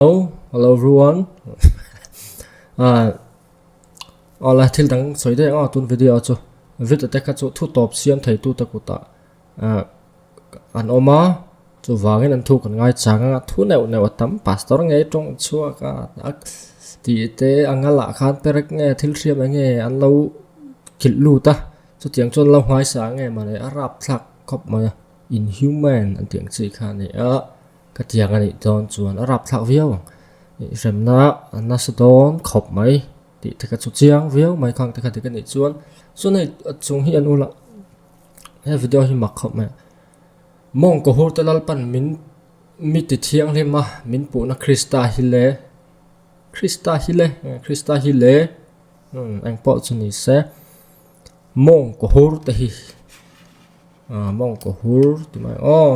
Hello, hello everyone. uh, ala thil dang soi dai nga tun video chu video te kha chu thu top siam thei tu ta kuta uh, an oma chu wangin an thu kan ngai changa thu neu neu tam pastor ngei tong chua ka ak ti te angala khan perek nge thil siam nge an lo kil lu ta chu tiang chon lo ngai sa nge mane arap thlak khop ma inhuman an tiang chi kha ni a Ka tiang a nih dawn chuan a rap thlak viau ang. I hremna a nasa dawn khawp mai tih te ka chu chiang viau mai khang te kha dik a nih chuan chuan hei chung hi an ula he video hi mak khawp mai. Monk kohur te lalpan min mi ti thianghlim a min puhna Krista hi le Krista hi le Krista hi le eng pawh chu ni se Monk kohur te hi Monk kohur ti mai aw.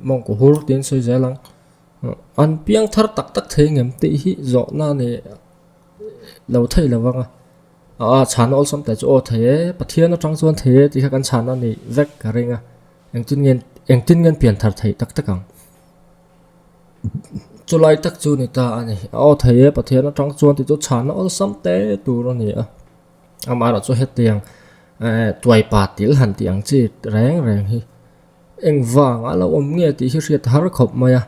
Mawngkaw hur tiin sawi zel ang. An piang thar tak tak thei ngam tih hi zawhna a ni lo thei lo vang a. Aa chhana awlsam te chu aw thei e, Pathian atang chuan thei e tih kha kan chhana a nih vek ka ring a. Engtin ngen engtin ngen pian thar theih tak tak ang. Chulai tak chu ni ta a ni. A aw thei e Pathian atang chuan tih chu chhana awlsam te tur a ni a. Amaherawhchu hetiang tuaipa tilh han tih ang chi reng reng hi. Engvang a lo awm nge tih hi hriat har khawp mai a,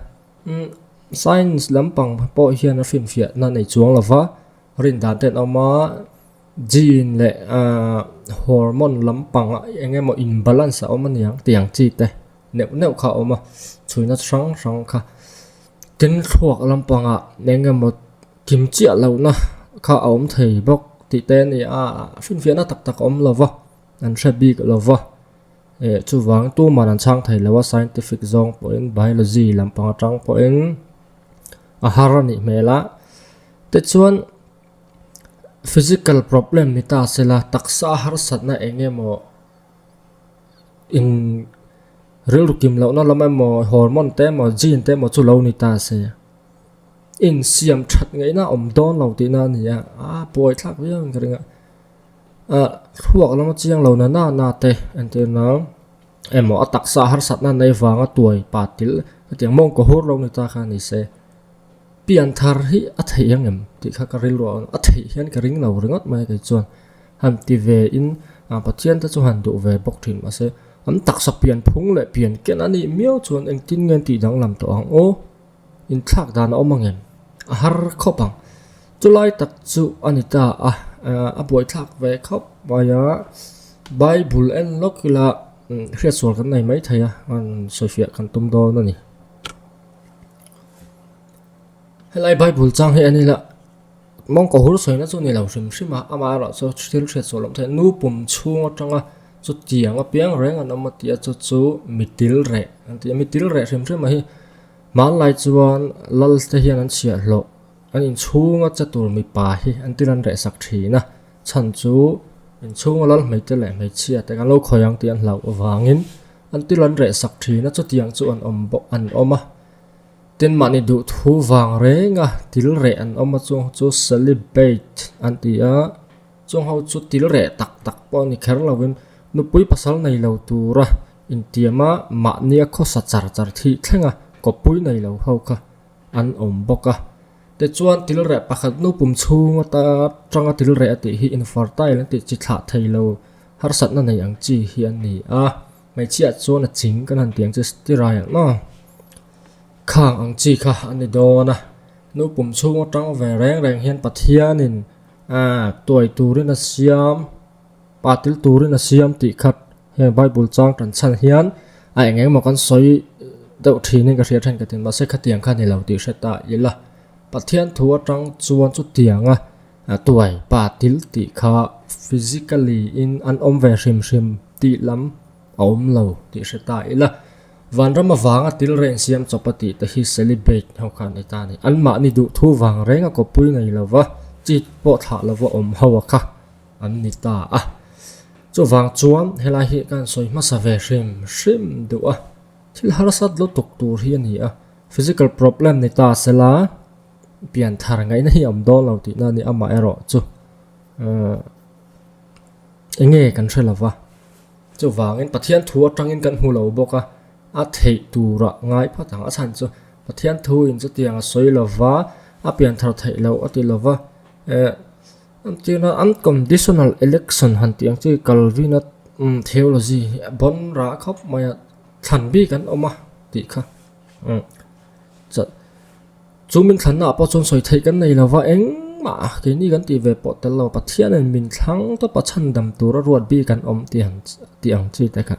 Science lampang pawh hian a hrinfiah na a nei chuang lo va, rindan te an awm a, gene leh hormone lampang ah eng emaw imbalance a awm a ni ang tih ang chi te neuh neuh kha a awm a, chhuina chi hrang hrang kha. Keng thluak lampang ah eng emaw kim chiah lohna kha a awm thei bawk tih te a ni a, hrinfiahna tak tak a awm lo va. An hre bik lo va, eh chuvang tuman an chhang thei lo a, scientific zawng pawhin biology lampang atang pawhin a har a nih hmel a. Tichuan physical problem ni ta se la taksa a harsatna eng emaw in rilru kim lohna lam emaw hormone te emaw gene te emaw chu lo ni ta se. Insiam that ngei na awm dawn lo tihna a ni a, aa puai thlak viau in ka ring a. Ah, thluak lama chiang lo nana na te an ti na emaw a taksa harsatna nei vanga tuai patil ka tiang mawng ka hur lo ni ta kha nise pian thar hi a theih ang em tih kha ka ril ruah a theih hian ka ring lo ringawt mai a kei chuan han ti ve in a pathian te chu han duh ve bawk thin mase an taksa pian phung leh pian ken a nih miau chuan engtin nge an tih danglam tawh ang aw. Inthlak dan a awm angem? A har khawp ang. Chulai tak chu a ni ta a, a buaithlak ve khawp mai a. Bible en lawk ila hriatsual kan nei maithei a, an sawifiah kan tum dawn a ni. Helai Bible chang hi a ni la. Mongkaw hur sawina chu ni lo hrim hrim a, amah erawh chu thil hriat sual awm theih nu pum chhung atanga chutiang apiang reng an awm a tih a chu chu mitil reh an ti a, mitil reh hrim hrima hi hmanlai chuan lal te hian an chhiah hlawh an inchhung a che tur mipa hi an thil an reh sak thin a chhan chu inchhung a lal hmeichhia te leh hmeichhia te kan lo khawih ang tih an hlauh avangin an thil an reh sak thin a chutiang chu an awm bawk an awm a. Tin mahni duhthu vang renga til reh an awm a, chungho chu celibate an ti a, chungho chu til reh tak tak pawh a ni kher lovin nupui pasal nei lo tura intiam a, mahnia khawsa char char thih thlenga kawppui nei lo ho kha an awm bawk a. Tichuan til reh pakhat nupum chhung ata tanga til reh a tih hi infertile an tih chi thlah thei lo harsatna nei ang chi hi an ni a. Hmeichhiah chuan a ching kan han tih ang chu sterile ang maw? Khang ang chi kha a ni dawn a, nupum chhung atang ve reng reng hian Pathianin aak tuai turin a siam, patil turin a siam tih khat heng Bible chang tan chhan hian a eng eng maw kan sawi deuh thinin ka hria then ka ti, mahse khatiang kha a ni lo tih hre ta ila, Pathian thu atang chuan chutianga tuai, patil tih kha physically in an awm ve hrim hrim. Tih lam a awm lo tih hre ta ila, Vanram avanga tilreh an siam chawpa tih te hi celibate ho khan ni ta ni. Anmahni duhthu vang reng a kawppui ngei lo va, chit pawh thlah lo va awm ho a kha an ni ta a. Chuvang chuan helai hi khan sawi hmasa ve hrim hrim duh a, thil harsat lutuk tur hi a ni a, physical problem ni ta sela pianthar ngaihna hi a awm dawn lo tihna a ni amaherawhchu. Enge kan hre lova, chuvangin Pathian thu atangin kan hmu lo bawk a, a theih tura ngai phat ang a chhan chu Pathian thuin chutiang a sawi lova, a pian thar theih lo a ti lova. Eh, an tih na unconditional election han tih ang chu i Kalvina theology hi a bawn rah khawp mai a, thlan bik an awm a tih kha. Chah, chu min thlannaah pawh chuan sawi theih kan nei lo va, engmah keini kan tih ve pawh tel lo, Pathianin min thlang tawpa chhandam tura ruat bik an awm tih han tih ang chi te kha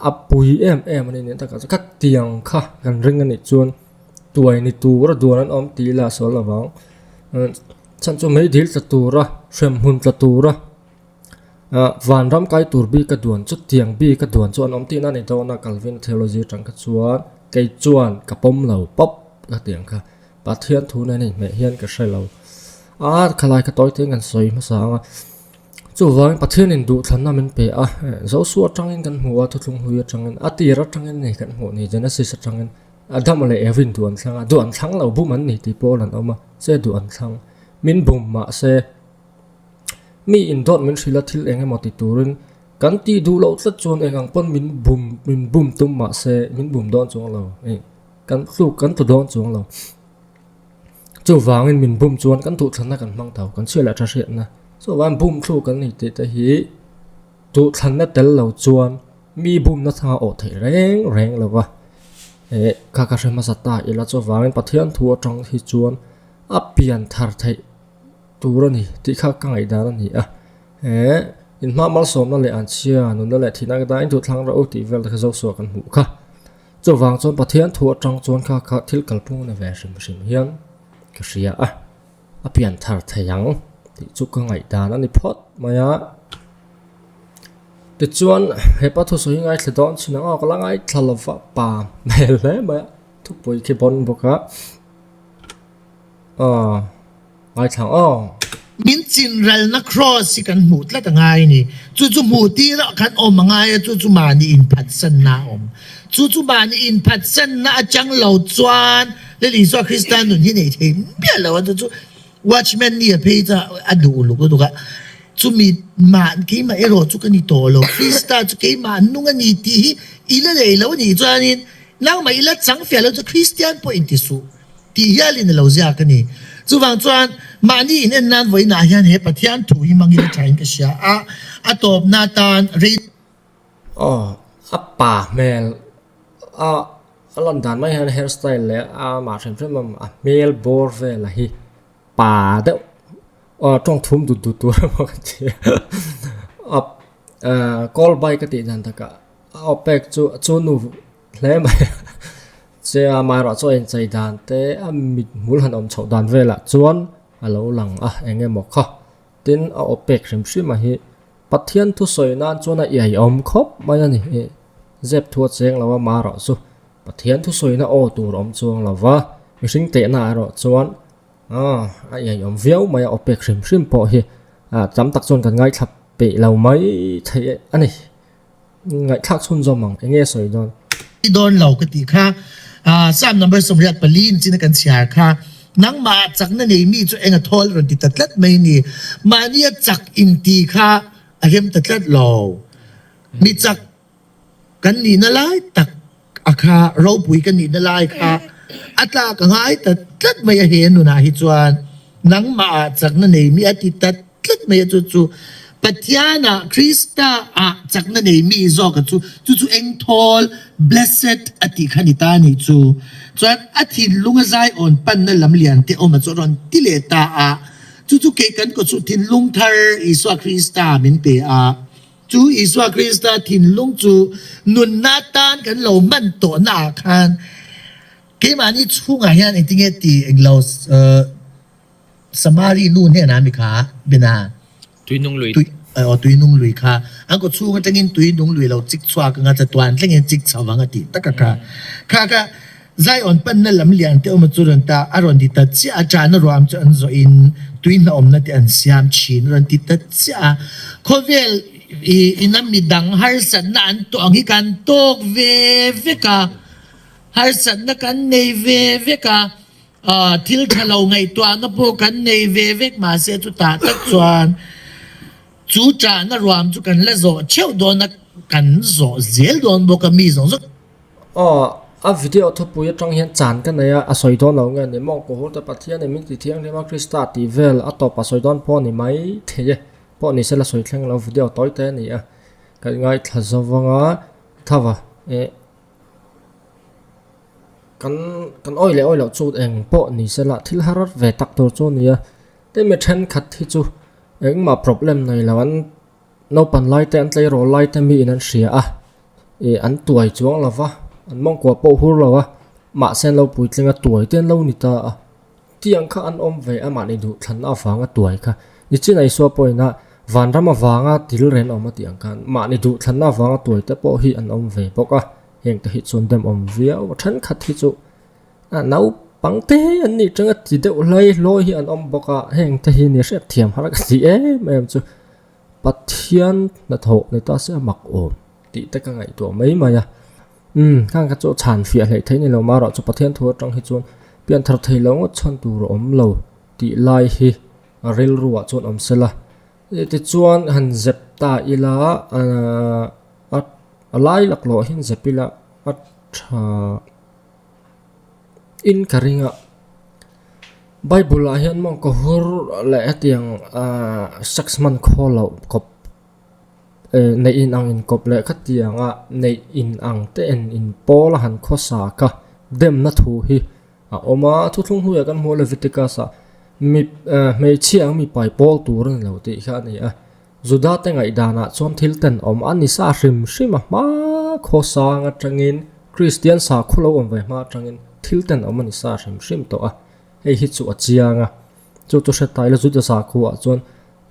a pui em em a ni. Nen takah chuan khatiang kha kan ring a nih chuan tuai ni tura duan an awm tih ila a sawi lovang, chhan chu meidil tla tura, hrem hun tla tura, Aah, vanram kai tur bika duan chu tiang bika duan chu an awm tihna a ni dawn a, Kalvina Theology atang kha chuan kei chuan ka pawm lo pawp ka ti ang kha, Pathian thu nen a inhmeh hian ka hre lo a, khalai kha tawi tein kan sawi hmasa ang a, chuvangin Pathian induhthlanna min pe a, Joshua atangin kan hmu a, Thuthlung Hlui atangin, a tir atangin a ni kan hmuh ni, Genesis atangin, Adam leh Eve in duan thlang a, duan thlang lo bum an ni tih pawh a rawn awm a, che duan thlang min bum mah se, Mi indawn min hrilh a thil eng emaw ti turin kan tih duh loh tlat chuan eng ang pawn min bum min bum tum mah se min bum dawn chuang lo ih kan hluk kan tlu dawn chuang lo chuvangin min bum chuan kan duhthlanna kan hmang tho kan chhiah leh a tha hriatna chuvang bum thluk kan nih tih te hi duhthlanna tel lo chuan mi bumna thla awh theih reng reng lo va eh kha ka hre hmasa ta ila chuvangin Pathian thu atang hi chuan a pian thar theih. tur a ni tih kha ka ngaihdan a ni a, he inhma malsawmna leh an chhia nunna leh thihna ka dahin duhthlang reuh tih vel te kha Joshua kan hmuh kha. Chuvang chuan Pathian thu atang chuan kha ka thil kalpung a ni ve hrim hrim hian ka hria a, a pian thar thei ang tih chu ka ngaihdan a ni phawt mai a. Tichuan hepa thusawi hi ngaithla dawn chin ang aw ka la ngaithla lova pa hmel hle mai a, thupuii khi a bawn bawk a. Aw, ngaithlang aw. Min chinralna Kraws hi kan hmuh tlat a ngai a ni. Chu chu hmuh tirah kan awm a ngai a, chu chu mahni inphatsanna a awm. Chu chu mahni inphatsanna a chang lo chuan Lily saw Krista nun hi nei thei miah lo a, chu chu Watchman ni a phei chuan a duh uluk uluk a. Chu mi mah keimah erawh chu ka ni tawh lo, Krista chu keimah an nung a ni tih hi i la lei lo a nih chuan in, nangmah i la chang fiah lo chu Kristian pawhin ti suh. Tih hial in a lo ziak a ni. Chuvang chuan mahni in en nan vawiinah hian he Pathian thu hi hmangin a thain ka hria a, a tawpna atan rei. Aw, a pa hmel a a lan dan mai hian a hair style leh a mah hrem hrem a, a hmel bawr vela hi pa deuh aw tawng thum dut dut tur emaw ka ti a, a call by ka tih dan takah a awpek chu chu nu. Hle mai a, che a mai erawh chu inchei dan te a mithmul han awm chhoh dan velah chuan a lo lang a eng emaw kha. Tin, a awp pek hrim hrima hi Pathian thu sawi nan chuan a iaiawm khawp mai a ni. Zep thu a cheng lo a mah erawh chu Pathian thu sawina aw tur awm chuang lo va, mihring tehnaah erawh chuan a iaiawm viau mai a, awp pek hrim hrim pawh hi tam tak chuan kan ngaithlap peih lo mai thei a ni. Ngaihthlak chhunzawm ang, eng nge sawi dawn? Ti dawn lo ka tih kha. Psalm number sawmriat pali in chin a kan chhiar kha. Nangmah a chak na nei mi chu eng a thawl rawn ti ta tlat mai ni? Mahni a chak in ti kha a rem ta tlat lo. Mi chak kan nihna lai tak. A kha ropui ka nihna lai kha a tlak a ngai ta tlat mai a, he nunah hi chuan nangmah ah chakna neimi a ti ta tlat mai a, chu chu Pathian ah Krista ah chakna neimi zawk a chu chu chu engthawl, blessed, a tih kha ni ta nih chu. Chuan a thinlung a zai awn panna lam lian te awm a chu a rawn ti leh ta a, chu chu kei kan kawh chu thinlung thar Isua Krista min pe a, Chu Isua Krista thinlung chu nunna tan kan lo hman tawh naah khan keimahni chhungah hian engtinge ti englo Samari nu hnenah mi kha bina Tuinung lui tui aw Tuinung lui kha an kaw chhung atangin Tuinung lui lo chik chhuak anga chatuan tlengin chik chho anga tih taka kha kha kha Zion panna lam liante awma chu rawn ta a rawn ti ta chiah a, chahna ruaham chu an zawh in tui hnah awmna te an siam thin a rawn ti ta chiah a, khawvel ina midang harsatna an tuah ang hi kan tawk ve vek a, harsatna kan nei ve vek a, thil tha lo ngaihtuahna pawh kan nei ve vek mah se chutah tak chuan chu chahna ruaham chu kan la zawh theuh dawn a, kan zawh zel dawn bawk a mi zawng zawng. Aw, a video thawpui atang hian chan ka nei a, a sawi dawn lo nge ni? Monk Puhur te Pathianin min ti thianghlim a, Krista a tih vel a tawp a sawi dawn pawh a ni maithei e. Pawh ni se la sawi thleng lo, video tawi te a ni a, kan ngaithla zo vang a, tho va, eh, kan kan awih leh awih loh chu eng pawh ni se la thil harar ve tak tur chu a ni a, hemi thenkhat hi chu engmah problem nei lo an Naupan laite an tleirawl laite miin an hria a, ih an tuai chuang lo va, an mawngkuah pawh hur lo a, mahse an lo puitling a tuai te an lo ni ta a, tiang kha an awm ve a mahni duhthlanna avanga tuai kha, nichinah Isua pawh ina vanram avanga thilrel a awm a tih ang khan mahni duhthlanna avanga tuai te pawh hi an awm ve bawk a, heng te hi chuan demawm viau a, thenkhat hi chu. A naupang te an nih chang a ti deuh hlai hlawi hi an awm bawk a heng te hi ni hriat thiam harh ka ti em em chu pathian hnathawh ni ta se a mak awm tih te ka ngaihtuah mai mai a umm khang kha chu a chhan fiah hleh theih nilo mah erawh chu pathian thu atang hi chuan pian thar thei lo ngawt chhan tur a awm lo tih lai hi a rilru ah chuan awm sela eh tichuan han zep ta ila aaa a a lai lak lawh ah hian zep ila a tha-- In ka ring a, Bible ah hian mawng ka hur leh hetiang aah sex man khaw loh kawp eeh neih in ang inkawp leh kha tiang a neih in ang te en in pawl a han khawsa ka demna thu hi a awm a thuthlung hnu ah kan hmuh a Leviticus ah mi eeh hmeichhia ang mipai pawl tur a ni lo tih kha a ni a. Juda te ngaihdan ah chuan thil ten awm a ni sa hrim hrim a hma khaw sang atangin Kristian sa khaw lo awm ve hma atangin thil ten awm a ni sa hrim hrim tawh a, hei hi chu a chiang a. Chu chu hre ta ila Juda sa khaw ah chuan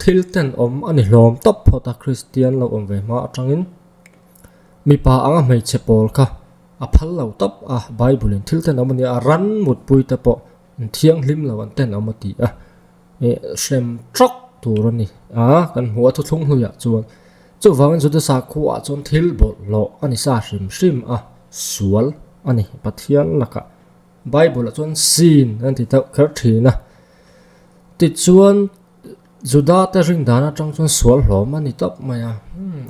thil ten awm a ni hlawm tawp phawt a Kristian lo awm ve hma atangin mipa anga hmeichhe pawl kha a phal lo tawp a Bible in thil ten awm a ni a ran mutpui te pawh inthianghlim lo an ten awm a ti a. hrem trawk tur a ni a kan hmuh a thuthlung hnuai ah chuan chuvang juda sakhu ah chuan thil bawrh hlawh a ni sa hrim hrim a sual a ni pathian laka bible ah chuan sin an ti deuh kher thin a tichuan juda te ring dan atang chuan sual hlawm a ni tawp mai a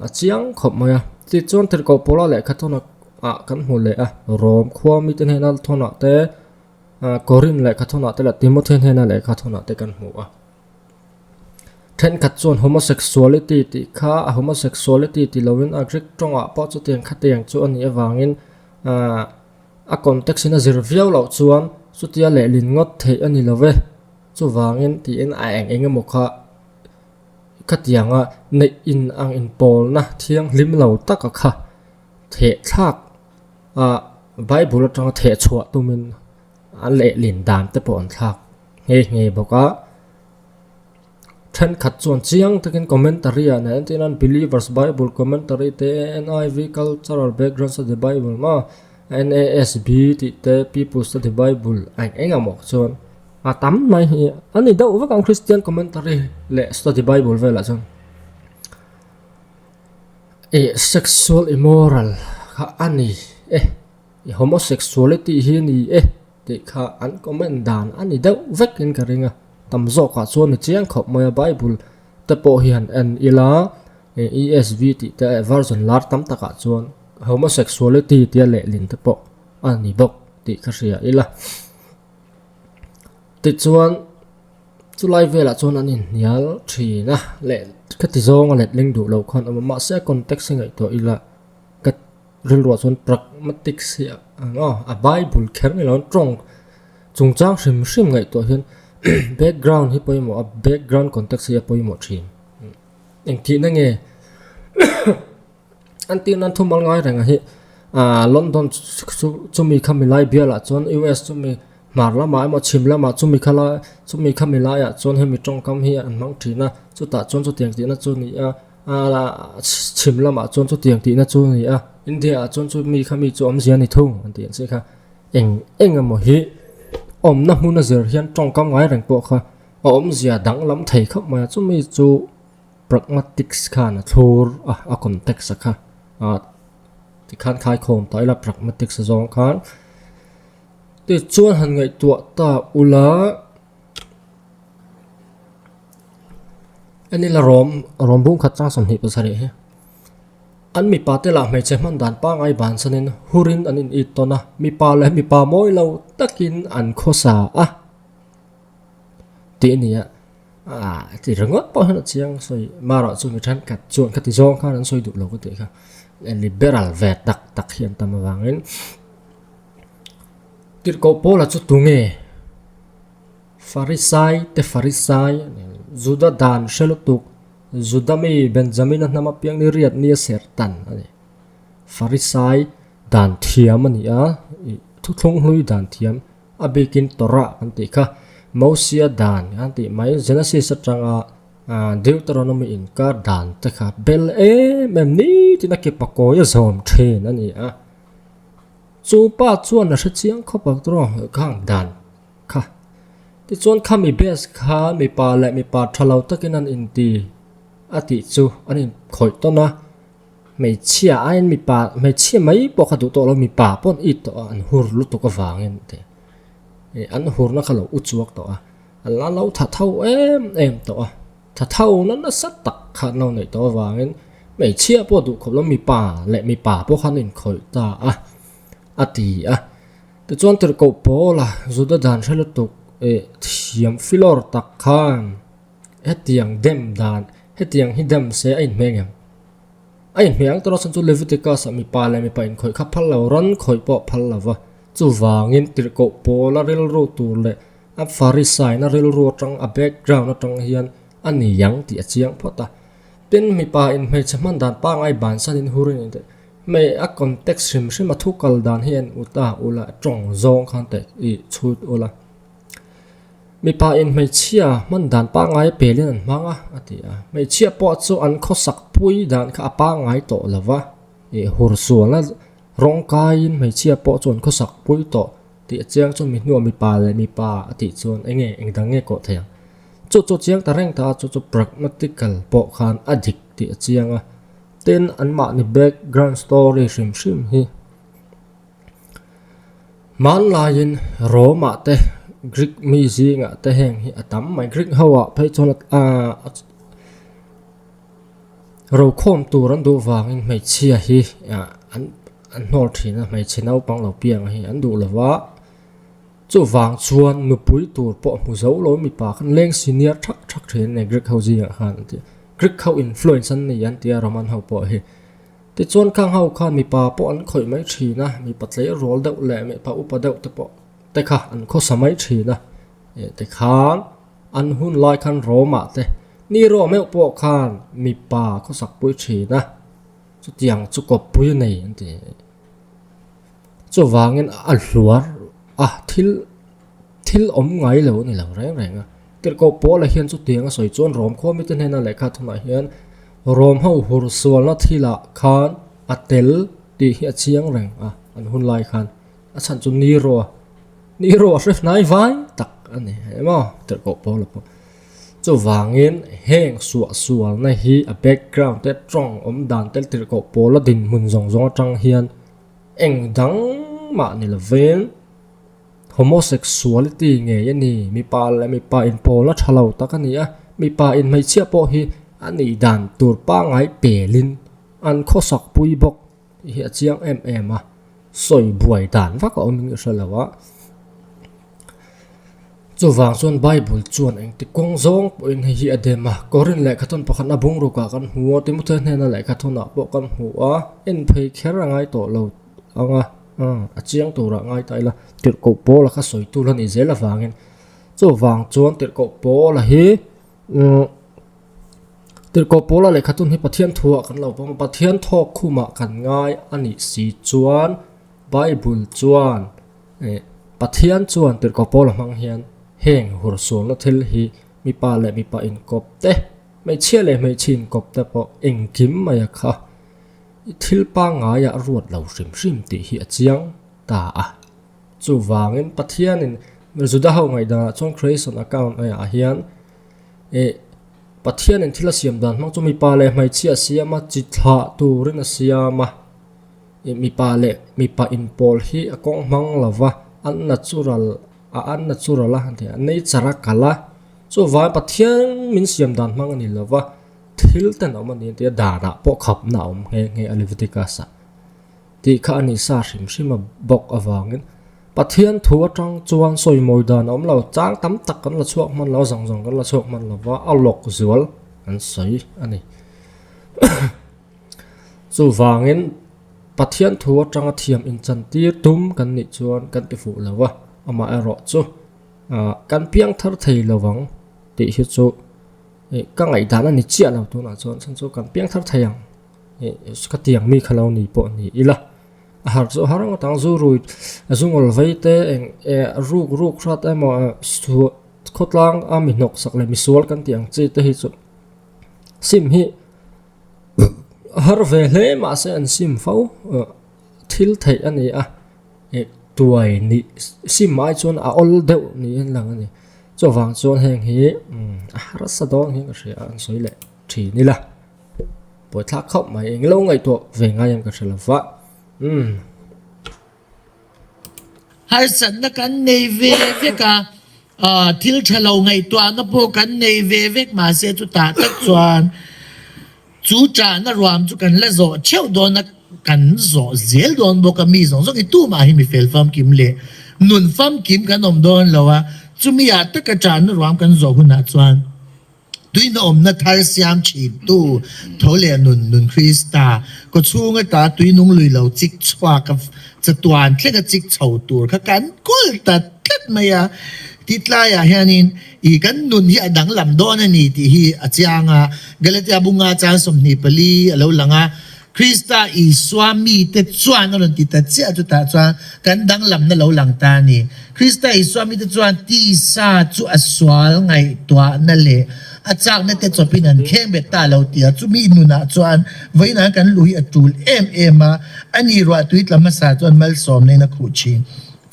a chiang khawp mai a tichuan tirhkoh pawla lehkha thawna ah kan hmu leh a rom khua mite hnena thawn ah te-- Korin lehkha thuna te leh Timothy hnena lehkha thuna te kan hmu a. Thenkhat chuan homosexuality tih kha a homosexuality ti loin a rek tawngah pawh chutiang khatiang chu a nih avangin a context in a zir viau loh chuan chutia lehlin ngawt theih a ni lo e. Chuvangin tiin a eng eng emaw kha khatianga neih in ang inpawlna thianghlim lo taka kha. Thehthlak a Bible atanga thehchhuah tumin a lehlin dan te pawh an thlak nghe nghe bawk a. Thenkhat chuan chiang takin commentary ah nai antih nan Believers Bible Commentary te, NIV Cultural Background Study Bible maw, NASB tih te, People Study Bible a eng eng amaw chuan a tam mai hi a ni deuh vek ang Christian Commentary leh Study Bible velah chuan. Eh, sexual immoral kha a ni e, i homosexuality hi a ni e tih kha an comment dan a ni deuh vekin ka ring a. Tam zawkah chuan i chiang khawp mai a, Bible te pawh hi han en ila, ESV tih te leh version lar tam takah chuan homosexuality tia lehlin te pawh a ni bawk tih ka hria ila. Tichuan. Chulai velah chuan an inhnial thin a, leh khati zawnga letling duh loh khan a awm a, mahse a context hi ngaihtuah ila ka rilruah chuan pragmatics hi a ang a, a Bible kher nge loin tawng chungchang hrim hrim ngaihtuah hian background hi pawimawh a background context hi a pawimawh thin. Engtihna nge An tih nan thu mal ngai reng a hi, London chu mi kha milai bial ah chuan US chu mi hmar lam ah emaw chhim lam ah chu mi kha la chu mi kha milai ah chuan hemi tawngkam hi an hmang thin a, chutah chuan chutiang tih na chu ni a, chhim lam ah chuan chutiang tih na chu ni a, India ah chuan chu mi kha mi chu awmzia ni thung an tih ang che kha. Eng eng emaw hi awm na hmun a zir hian tawngkam ngai reng pawh kha a awmzia danglam thei khawp mai a, chu mi chu Pragmatics khan a thlur a, a context a kha a tikhan khaikhawm ta ila pragmatics a zawng khan tichuan han ngaihtuah ta ula enila rom rom bung khat chang sawmhnih pasarih hi an mipa te lah hmeichhe hman dan pangai ban sanin hurin an in it tawn a mipa leh mipa mawi lo takin an khawsa a tih a ni a. a ti ringawt pawh hian a chiang a sawi a maroh chu mi thenkhat chuan khati zawng khan an sawi duh lo ka ti kha liberal ve tak tak hi an tam avangin tirhko paula chu tunge farisai te farisai juda dan hre lutuk juda mi benjamin a hnam apiang ni riat ni a ser tan ani farisai dan thiam ani a thuthlung hlui dan thiam A bikin Torah kan tih kha, Mosia dan kan tih mai, Genesis atanga Deuteronomy inkar dan te kha bel em em nitin a ke pakawih a zawm thin a ni a. Chu pa chuan a hrechiang khawp ang tawh ang khang dan kha. Tichuan kha mi base kha mipa leh mipa tha lo takin an inti a tih chu an inkhawih tawn a. Hmeichhia aiin mipa, hmeichhia mai pawh kha duh tawh lo, mipa pawn it tawh a, an hur lutuk avangin tih ih an hurna kha lo uchuak tawh a, an la lo thatho em em tawh a, thathona nasa tak kha an lo neih tawh avangin hmeichhia pawh duh khawp lo, mipa leh mipa pawh kha an inkhawih ta a, a ti a. Tichuan tirhkoh pawla Juda dan hre lutuk ih thiam filawr tak khan. Hetiang dem dan, hetiang hi dem se a inhmeng em? A inhmeh ang tawh nasan chu Leviticus-a mipa leh mipa inkhawih kha phal lo, ran khawih pawh phal lo va. Chuvangin tirhkoh pawla rilru tur leh a Pharisaiina rilru atang a background atang hian a ni ang tih a chiang phawt a. Tin, mipain hmeichhe hman dan pangai bansan in hur in tih hmeh a context hrim hrim a thu kal dan hi a en ut a, ula tawng zawng khan teh i chhut ula. Mipa in hmeichhia hman dan pangai pelin an hmang a, a ti a. Hmeichhia pawh chu an khawsak pui dan kha a pangai tawh lo va, ih hur sual a rawng kaiin hmeichhia pawh chu an khawsak pui tawh tih chiang chuan mi hnuah mipa leh mipa a tih chuan eng nge engdang nge kawh thei ang. Chu chu chiang ta reng ta a chu chu pragmatical pawh khan a dik tih a chiang a. Tin anmahni background story hrim hrim hi. Hmanlaiin Roma te Greek mi zinga te heng hi a tam mai. Greek ho ah phei chuan rokhawm tur an duh vangin hmeichhia hi an an hnawr thin a, hmeichhe naupang lo pianga hi an duh lo va. Chuvang chuan nupui tur pawh hmu zo lo mipa khan leng senior thak thak thin a ni Greek ho zingah khan an ti a. Greek ho influence an ni an ti a Roman ho pawh hi. Tichuan khang ho khan mipa pawh an khawih mai thin a, mipa tlei rawl deuh leh mipa upa deuh te pawh te kha an khawsa mai thin a. Eh, tikhan an hun lai khan Roma te, ni rawh meuh pawh khan mipa khawsak pui thin a, chutiang chu kawppui a nei an ti. Chuvangin a hluar a, thil thil awm ngai lo a ni lo reng reng a. Tirhkoh pawla hian chutiang a sawi chuan Rom khua mite hnena lehkha thunah hian Rom ho hur sualna thila khan a tel tih hi a chiang reng a, an hun lai khan a chhan chu Nero a, Nero a hre hnai vai tak a ni e maw tirhkoh pawla pawh. Chuvangin heng suah sualna hi a background te a tawng awm dan tel tirhkoh pawla dinhmun zawng zawng atang hian, Eng dang mah ni lovin homosexuality ngei a ni. Mipa leh mipa inpawlna tha lo tak a ni a. Mipa in hmeichhia pawh hi a nih dan tur pangai pelin an khawsak pui bawk hi a chiang em em a, sawi buai dan vak a awm hi a hre lo a. Chuvang chuan Bible chuan engti kawng zawng pawhin hei hi a dem a. Korin lehkha thun pakhat a bungrukah kan hmu a, Timothy hnena lehkha thunah pawh kan hmu a, en phei kher a ngai tawh lo ang a, a chiang turah ngai ta ila tirhkoh pawla kha sawi tu la nih zel avangin. Chuvang chuan tirhkoh pawla hi tirhkoh pawla lehkha thun hi Pathian thuah kan lo pawm a, Pathian thawk khumah kan ngai a nih si chuan Bible chuan Pathian chuan tirhkoh pawl a hmang hian heng hur sualna thil hi mipa leh mipa inkawp te, hmeichhia leh hmeichhe inkawp te pawh engkim mai a kha. I thil pangngaia ruat lo hrim hrim tih hi a chiang ta a. Chuvangin Pathianin Juda ho ngaihdanah chuan Creation account ah hian Pathianin thil a siam dan hmang chu mipa leh hmeichhia a siam a, chi thlah turin a siam a. I mipa leh mipa in pawl hi a kawng hmang lo va, an na chu ral a an na chu ral a nature a kal a, chu vai Pathian min siam dan hmang a ni lo va, thil ten awm a ni tia danah pawh khapna a awm nghe nghe a Leviticus ah tih kha a ni sa hrim hrim a bawk avangin Pathian thu atang chuan sawi mawi dan a awm lo chang tam tak kan la chhuak hman lo a zawng zawng kan la chhuak hman lo va a lawk zual kan sawi a ni. Chuvangin, Pathian thu atanga thiam inchantir tum kan nih chuan kan ti fuh lo a, amah erawh chu kan piang thar thei lo ang tih hi chu ka ngaihdan a ni chiah lo tunah chuan chhan chu kan piang thar thei ang ka tiang mi kha lo ni pawh ni ila. A har chu a har ang atang, zu rui zungawlh vei te eng e ruk ruk hrat emaw e suah khawtlang a mi hnawk sak leh mi sual kan tih ang chi te hi chu sim hi Har ve hle mahse an sim fo. Thil theih a ni a, tuai ni sim ai chuan a awl deuh niin lang a ni. Chuvang chuan heng hi a harsa dawn hi ka hria an sawi leh thin ila. Pawithlak khauh mai englo ngaihtuah ve ngai ang ka hre lova. Harsatna kan nei ve vek a, thil tha lo ngaihtuahna pawh kan nei ve vek mahse chutah tak chuan chu chahna ruam chu kan la zawh theuh dawn a, kan zawh zel dawn bawk a, mi zawng zawng i tumah hi mi fel famkim leh nun famkim kan awm dawn lo a, chumi ah taka chahna ruam kan zawh hunah chuan. Tuinawmna thar siam thintu tho leh nun nun Krista kaw chhunga ta tuinung lui lo chik chhuak a chatuan thleng a chik chho tur kha kan kawl ta tlat mai a. Ti tlai ah hian in i kan nun hi a danglam dawn a ni tih hi a chiang a. Galatia bunga chang sawmhnih pali a lo lang a. Krista Isua mite chuan a rawn ti ta chiah chutah chuan kan danglamna lo lang ta a ni. Krista Isua mite chuan tisa chu a sual ngaihtuahna leh a chakna te chawpin an kheng bet ta lo tia chumi nunah chuan vawiinah kan luh hi a tul em em a, a nih ruah tui tla hmasa chuan malsawm neina khuh thin.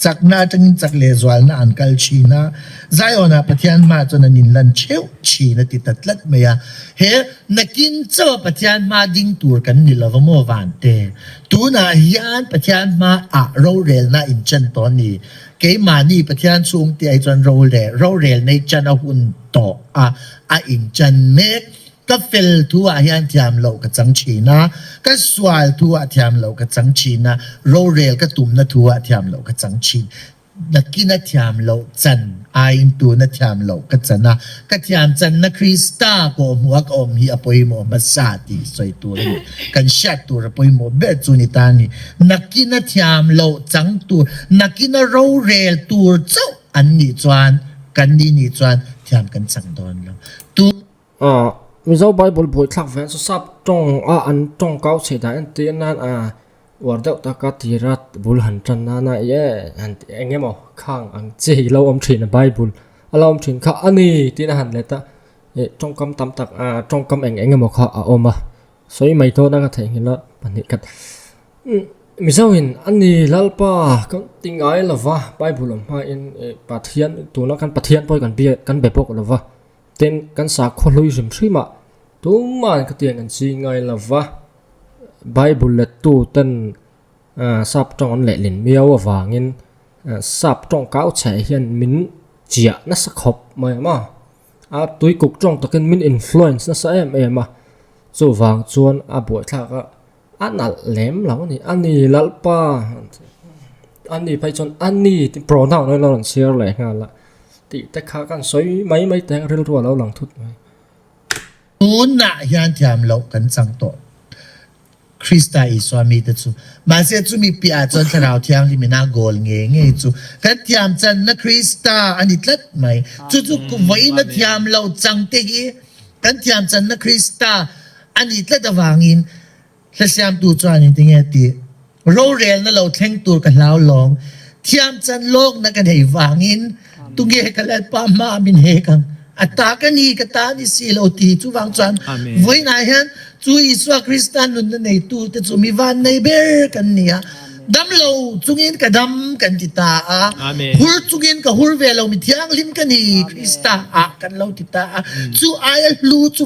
Chakna atangin chak leh zualna an kal thin a, Zion-ah Pathian hma chuan an inlan theuh thin a ti ta tlat mai a. He nakin chaw Pathian hma ding tur kan ni lo maw Vante? Tunah hian Pathian hmaah rorelna in chan tawh ni? Keimahni Pathian chhungte ai chuan role rorelna i chan a hun tawh a, a in chan mek. Ka fel thu ah hian thiam loh ka chang thin a, ka sual thu ah thiam loh ka chang thin a, rorel ka tum na thu ah thiam loh ka chang thin. Nakin a thiam loh chan aiin tun a thiam loh ka chan a, ka thiam chan na Krista kawhhmuh a ka awm hi a pawimawh hmasa tih sawi tur a ni. Kan hriat tur a pawimawh ber chu ni tan ni. Nakin a thiam loh chang tur, nakin a rorel tur chauh an nih chuan kan ni nih chuan thiam kan chang dawn lo. A Mizo Bible buaithlak vêl chu sap tawngah an tawngkau chhe dan entir nân a uar deuh tak a tira bul han ṭan nâna yeah han tih eng emaw khâng ang che hi lo awm ṭhin a Bible a lo awm ṭhin kha a ni tiin a han let a, eh ṭawngkam tam tak a ṭawngkam eng eng emaw kha a awm a sawi mai dawn a ka theihnghilh a pahnih khat umm Mizoin a ni lalpa kan ti ngai lo va Bible awm hmain eh Pathian tuna khan Pathian pawh kan biak kan be bawk lo va. Tin, kan sakhaw hlui hrim hrimah tuma'n ka tiang kan ching ngai lo va, Bible lettu ten sap tawng an lehlin miau avangin sap tawng kau chhe hian min chiah nasa khawp mai em a, a tuikuk tawng takin min influence nasa em em a, chuvang chuan a buaithlak a. A nalh lem lo a ni, a ni lalpa an ti a, a ni phei chuan a ni tih pronoun a lo rawn chhiar leh nghal a, tih te kha kan sawi mai mai te rilru a lo lang thut mai. Tunah hian thiam loh kan chang tawh Krista Isua mite chu, mahse chumi piahah chuan Thlarau Thianghlimina goal nge ngei chu kan thiamchanna Krista a ni tlat mai. Chu chu vawiina thiam lo changte hi kan thiamchanna Krista A nih tlat avangin thlasiamtu chuan in ti nge ti, Rorelna lo thleng tur ka hlau lawng, thiamchan lawkna ka neih vangin tunge ka Lalpa hmaah min hek ang? A ta ka ni, ka ta ni si lo ti hi. Chuvang chuan vawiinah hian chu Isua Krista nunna neitute chu mi vannei ber kan ni a, dam lo chungin ka dam kan ti ta a, hur chungin ka hur ve lo, mi thianghlim ka ni Krista ah kan lo ti ta a, chu aia hlu chu.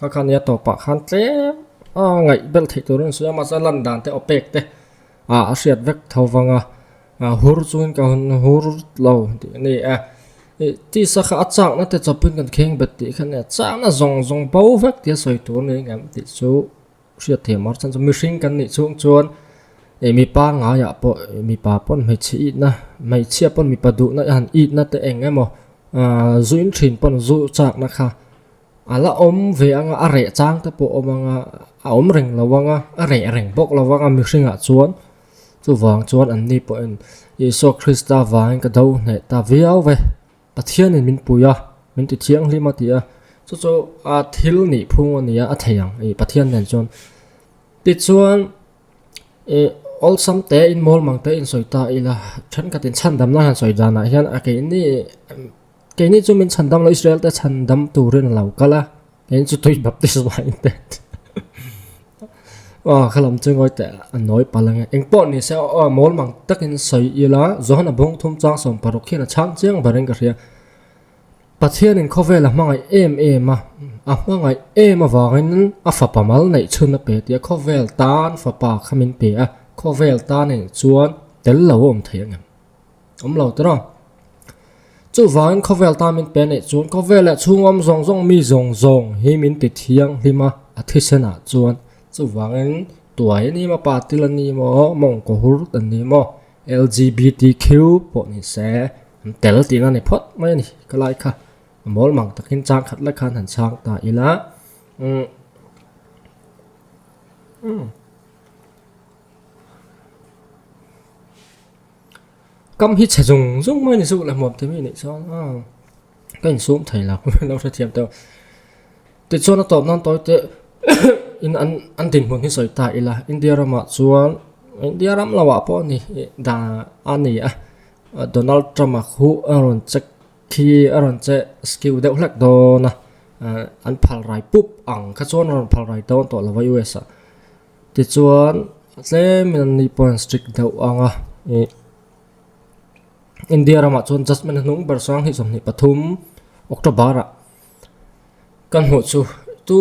Ka khan ia tawp ah khan tlem a ngaih belh theih tur in sawi a, mahse lan dan te aw pek te ah a hriat vek tho vang a, hur chu in ka hun hur lo tih a ni e. I tisa kha a chakna te chawp in kan kheng bet tih kha nia, chakna zawng zawng bo vek tih a sawi tur niin ka em tih chu hriat theih mar chan chu mihring kan nih chhung chuan ih mipa ngaiah pawh mipa pawn hmeichhe itna hmeichhia pawn mipa duhna a han itna te eng emaw aaa zuin thin pawn zu chakna kha a la awm ve ang a a reh chang te pawh a awm ang a a awm reng lo ang a a reh reng bawk lo ang a mihringah chuan chuvang chuan anni pawhin isua krista vangin ka do hneh ta viau vai. Pathianin min pui a, min ti thianghlim a ti a. Chu chu a thil nih phung a nia a thei ang. I Pathian nen chuan. Tichuan i awlsam te in mawl mang te in sawi ta ila thenkhatin chhan dam nan han sawi danah hian a keini keini chu min chhan dam lo Israel te chhan dam turin a lo kal a. Eng chu tui baptist va in pet. Aw khalam chu ngoi te a noi palang eng po ni se aw mol mang takin soi ila zohana bung thum chang som paruk khian a chang chiang barin ka hria. Pathian in khovel a hmangai em em a a hmangai em avangin a fapa mal nei chhun a pe tia khovel tan fapa kha min pe a khovel ta nei chuan tel lo awm thei angem. awm lo tawh a, chuvangin khawvel tan min pe neih chuan khawvel leh chhungawm zawng zawng mi zawng zawng hi min ti thianghlim a, a thisenah chuan chuvangin tuai a ni maw patil a ni maw mawngkaw hur a ni maw LGBTQ pawh ni se an tel tihna a ni phawt mai a ni ka lai kha a mawl mang takin chang khat lai khan han chhang ta ila umm umm. kam hi chhe zung zung mai ni chu la hmuam timi ni chuan a ka in sum thei lak lo hre thiam teuh ti chuan a tawp nan tawi teh in an an dinhmun hi sawi ta ila india ramah chuan india ram lo ah pawh ani da ani a donald trump a khu a rawn che khi a rawn che skill deuh hlek dawn a an phal rai pup ang kha chuan a rawn phal rai dawn tawh lo va us ah Tichuan tlem in an ni pawhin strict deuh ang a, ih India ramah chuan judgement a hnung ber sang hi sawmhnih pathum October ah ka hmuh chu chu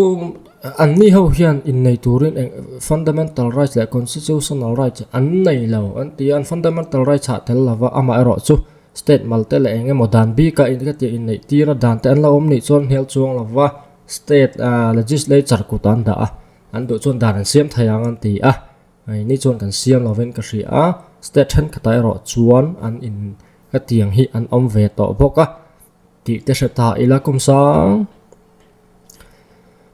an ni ho hian innei turin eng fundamental rights leh constitutional rights an nei lo an ti a, an fundamental rights hah tel lova amah erawh chu state mal te leh eng emaw dan bik a ka tih innei tir a dan te an lo awm nih chuan hnial chuang lova state ah legislature kutah an dah a. An duh chuan dan an siam thei ang an ti a, hei ni chuan kan siam lo vin ka hria a, state thenkhatah erawh chuan an in hetiang hi an awm ve tawh bawk a, tih te hre ta ila kum sang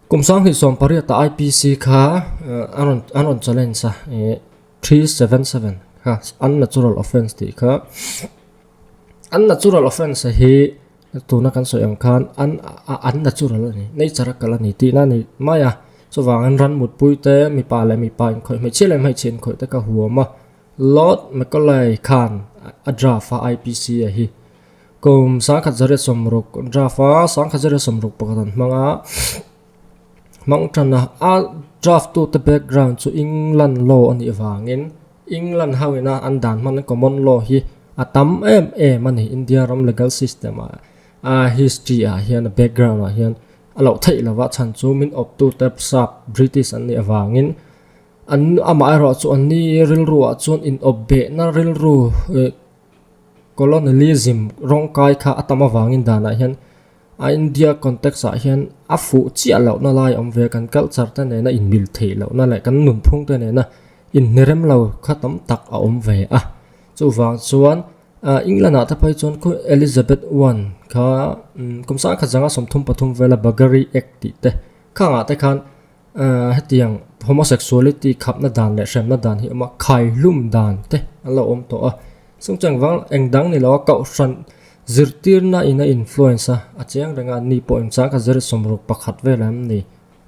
kum sang hnih sawm pariata IPC kha an rawn an rawn challenge a, three seven seven kha an natural offence tih kha. an natural offence hi tuna kan sawi ang khan an an natural a ni nature a kal a ni tihna a ni mai a chuvang in ram mutpui te mipa leh mipa inkhawih hmeichhia leh hmeichhe inkhawih te ka huam a lot mekolai khan a draft a IPC a hi kum sangkhat zaria sawmruk draft a sangkhat zaria sawmruk pakhat an hmang a. Hmangṭan a, a draft tu te background chu England law a nih vangin England ho in a an dan hman common law hi a tam em em a ni, India ram legal system ah a history ah hian a background ah hian a loh theih lo va, chhan chu min awp tu te Prsap British an nih avangin an amah erawh chu an ni rilru ah chuan in awp beh na rilru colonialism rawng kai kha a tam avangin dan ah hian A India context ah hian a fuh chiah loh na lai awm ve kan culture te nena inmil theih loh na leh kan nunphung te nena inhnerem lo kha tam tak a awm ve a, chuvang chuan England ah te pawh hi chuan khu Elizabeth one kha kum sangkhat zanga sawmthum pathum vela Buggery Act tih te kha angah te khan hetiang homosexuality khapna dan leh hremna dan hi awm a khai hlum dan te an lo awm tawh a chung chung vang eng dang ni lo a kohhran zirtirna in a influence a a chiang reng a ni pawh in chang kha zir sawm ruk pakhat vel an ni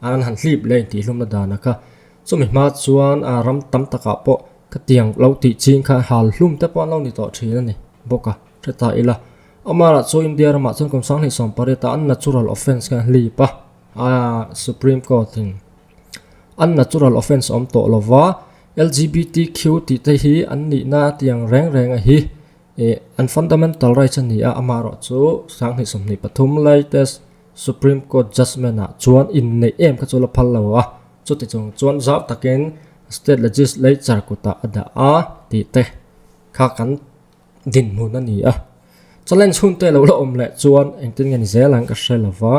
a an han hlip leh intih hlumna dana kha chumi hma chuan a ram tam takah pawh khatiang lo tih ching kha hal hlum te pawh an lo ni tawh thin a ni bawk a hre ta ila amaherawhchu india ramah chuan kum sanghnih sawmpariat ah an natural offence kha an hlip a. A Supreme Court in an natural offence a awm tawh lo va, LGBTQ tih te hi an nihna atiang reng reng a hi eh an fundamental rights a ni a, amah erawh chu sang hnih sawmhnih pathum latest Supreme Court judgement ah chuan inneih em kha chu la phal lo a, chuti chung chuan zau takin state legislature kutah a dah a tih te kha kan dinhmun a ni a. Challenge hun te lo la awm leh chuan engtin nge ni zel ang ka hre lo va.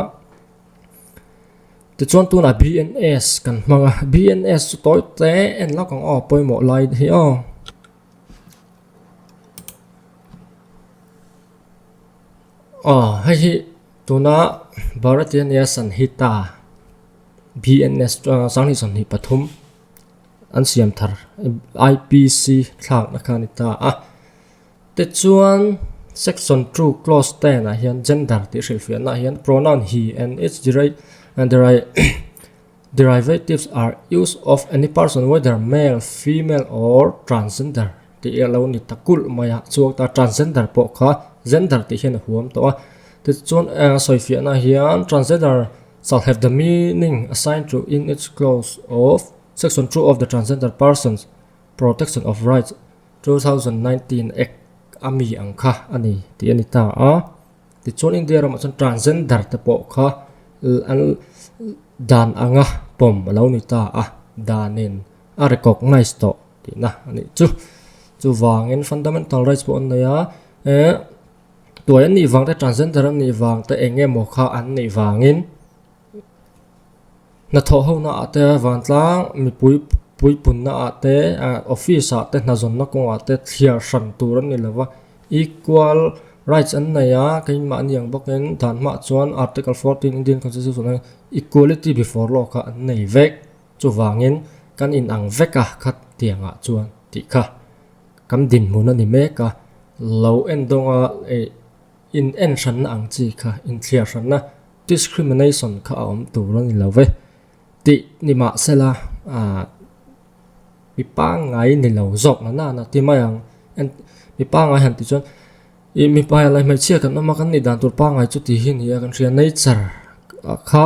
Tichuan tunah BNS kan hmang a, BNS chu tawi tle en lak ang aw pawimawh lai hi aw. Aw hei hi tuna Bharatiya Niyasa an hit a, BNS, Sanghnih Sawmhnih Pathum. An siam thar IPC thlakna khan i ta a. Te chuan section two clause ten ah hian gender tih hrilhfiahna ah hian pronoun he and its derivatives are used of any person whether male, female or transgender tih a lo ni ta kulh mai a. Chhuak ta transgender pawh kha gender tih hian a huam tawh a. Tichuan sawifiahna ah hian transgender. Sahlet the meaning assigned to in its clause of Section two of the Transgender Persons Protection of Rights two thousand nineteen Act a mi ang kha a ni tih a ni ta a. Tichuan India ramah chuan transgender te pawh kha an dan anga pawm a lo ni ta a, danin a recognise tawh tihna a nih chu. Chuvangin fundamental rights pawh an nei a. Tuai an nih vang te, transgender an nih vang te eng nge maw kha an nih vangin hnathawh ho naah te vantlang mipui pui pun naah te office ah te hnahzawn na kawngah te thliar hran tur an ni lova equal rights an nei a keiin mah aniang bawkin dan hmah chuan article fourteen Indian constitution ah equality before law kha an nei vek chuvangin kan inang vek a khat tiangah chuan tih kha. Kan dinhmun a ni mek a, lo en dawnga leh inenhranna ang chi kha inthliarhranna, discrimination, kha a awm tur a ni lo ve tih ni mah sela, mi pangngai ni lo zawkna nana ti mai ang. Mi pangngai han tih chuan ih mipa leh hmeichhia kan awm a, kan ni dan tur pangngai chu tih hi a ni a, kan hria nature kha.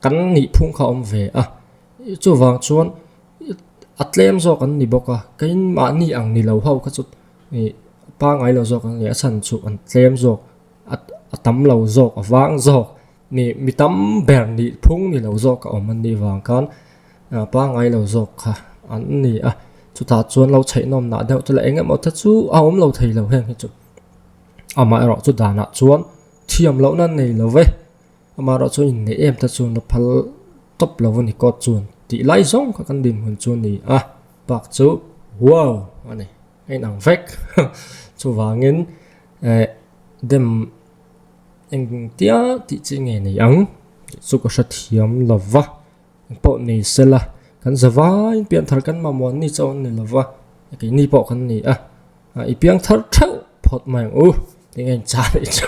Kan nih phung kha awm ve a, chuvang chuan a tlem zawk an ni bawk a, keimahni ang ni lo ho kha chu pangai lo zawk an ni a, a chhan chu an tlem zawk a tam lo zawk a vang zawk ni mi tam ber nih phung ni lo zawk a awm an nih vang khan pangai lo zawk kha an ni a, chutah chuan lo chheihnawmnah deuh te leh eng emaw te chu a awm lo thei lo heng hi chu amaherawhchu danah chuan thiam lohna nei lo e. Amaherawh chu inneih em te chu na phal tawp lo a ni kawt chuan tih lai zawng kha kan din hun chu ni a, Park chu Wow! a ni. A inang vek. Chuvangin eh dem engtia tih chi nge nei ang tih chu ka hrethiam lo va, eng pawh ni se la kan za vain pian thar kan mamawh ni chauh an ni lo va, keini pawh kan ni a, i piang thar theuh phawt mai ang u tih nge inchah rih chu.